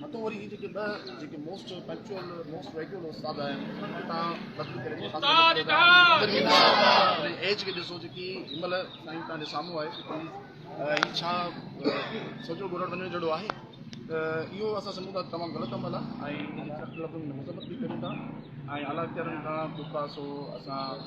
متو وري هي جيڪي ٻه جيڪي موسٽ فيڪچوئل موسٽ ريگيول استاد آهن انهن کي تان بدل ڪري استاد استاد ايج کي ڏسو جيڪي هن مهل سائين تان جي سامهون آهي هي ڇا سوچو گهرڻ وڃڻ جهڙو آهي ته اهو اسان سمجھون ٿا تمام غلط عمل آهي ۽ ان کي سخت لفظن ۾ مذمت به ڪريون ٿا ۽ اعليٰ اختيارين کان جيڪا سو اسان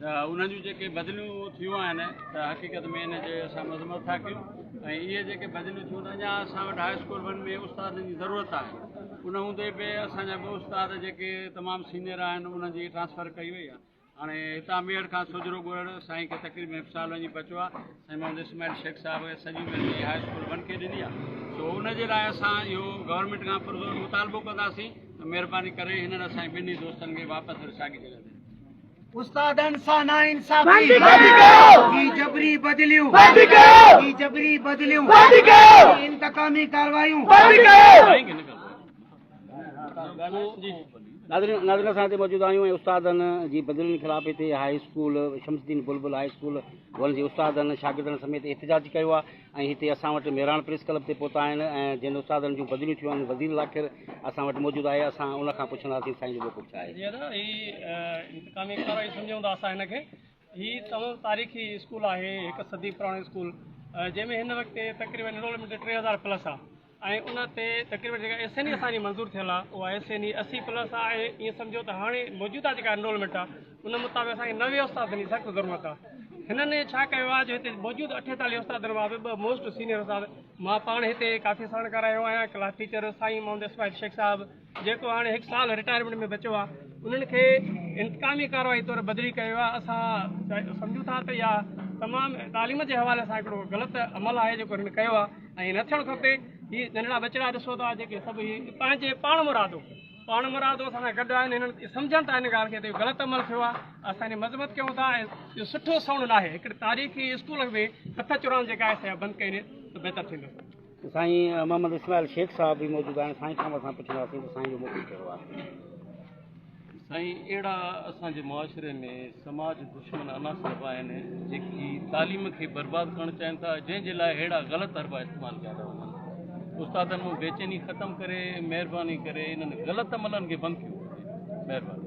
ته انهن جون جيڪي بدليون ٿيون آهن ته حقيقت ۾ ان جي اسان مذمت ٿا ڪيون ۽ اهي جيڪي بدليون ٿيون ته اڃا اسان وٽ هاء اسڪول ون ۾ استادن جي ضرورت آهي ان هوندي به اسان جا ٻه استاد جيڪي تمام سينئر آهن انهن جي ٽرانسفر ڪئي وئي آهي هاڻي هتان ميڙ کان سوجهرو ڳوڙهڙ سائين کي تقريب ۾ سال وڃي پهچو آهي سائين محمد اسماعيل شيخ صاحب سڄي مهرباني هاء اسڪول ون کي ڏني آهي سو ان جي لاء اسان اهو گورنمنٽ کان پرزور مطالبو ڪنداسين ته مهرباني ڪري هنن اسان جي ٻنهي دوستن کي واپس وري ساڳي جڳهه تي استادن سان نا انصافي بند ڪيو هي جبري بدليون بند ڪيو هي جبري بدليون بند ڪيو انتقامي ڪاروايون بند ڪيو ناظرين ناظرين اسان هتي موجود آهيون ۽ استادن جي بدلين خلاف هتي high school Shamsuddin Bulbul high school جي استادن شاگردن سميت احتجاج ڪيو آهي ۽ هتي اسان وٽ ميراڻ پريس ڪلب تي پهتا آهن ۽ جن استادن جون بدليون ٿيون آهن وزير ذاڪر اسان وٽ موجود آهي اسان ان کان پڇنداسين سائين جو موقف ڇا آهي. جي ادا هي انتقامي ڪارروائي سمجهون ٿا اسان هن کي هي تمام تاريخي اسڪول آهي هڪ صدي پراڻو اسڪول جنهن ۾ هن وقت تقريبن انرولمينٽ ٽي هزار پلس آهي ۽ ان تي تقريبن جيڪا ايس اين اي اسان جي منظور ٿيل آهي اها ايس اين اي اسي پلس آهي ۽ ائين سمجهو ته هاڻي موجوده جيڪا انرولمينٽ آهي ان مطابق اسان کي نوي استادن جي سخت ضرورت آهي هنن ڇا ڪيو آهي جو هتي موجود اٺيتاليهه استادن مان به ٻه موسٽ سينيئر استاد مان پاڻ هتي ڪافي ساڻ ڪرايو آهيان ڪلاس ٽيچر سائين محمد اسماعيل شيخ صاحب جيڪو هاڻي هڪ سال رٽائرمينٽ ۾ بچيو آهي انهن کي انتقامي ڪارروائي طور بدلي ڪيو ويو آهي اسان سمجهون ٿا ته اها تمام تعليم جي حوالي سان هڪڙو غلط عمل آهي جيڪو هنن ڪيو آهي ۽ نه ٿيڻ کپي هي ننڍڙا ٻچڙا ڏسو ٿا جيڪي سڀ هي پنهنجي پاڻ مرادو پاڻ مرادو اسان سان گڏ آهن هنن سمجهن ٿا هن ڳالهه کي ته غلط عمل ٿيو آهي اسان هن مذمت ڪيون ٿا ۽ اهو سٺو سائونڊ ناهي هڪڙي تاريخي اسڪول ۾ هٿ چورائڻ جيڪا آهي سا بند ڪئي وڃي ته بهتر ٿيندو سائين محمد اسماعيل شيخ صاحب به موجود آهن سائين کان اسان پڇنداسين ته سائين جو موقف ڪهڙو آهي. سائين اهڙا اسان جي معاشري ۾ سماج دشمن عناصر به آهن جيڪي تعليم کي برباد ڪرڻ چاهين ٿا جنهن جي لاء اهڙا غلط حربا استعمال ڪيا ٿا وڃن استادن مون بيچيني ختم ڪري مهرباني ڪري انهن غلط عملن کي بند ڪيو وڃي مهرباني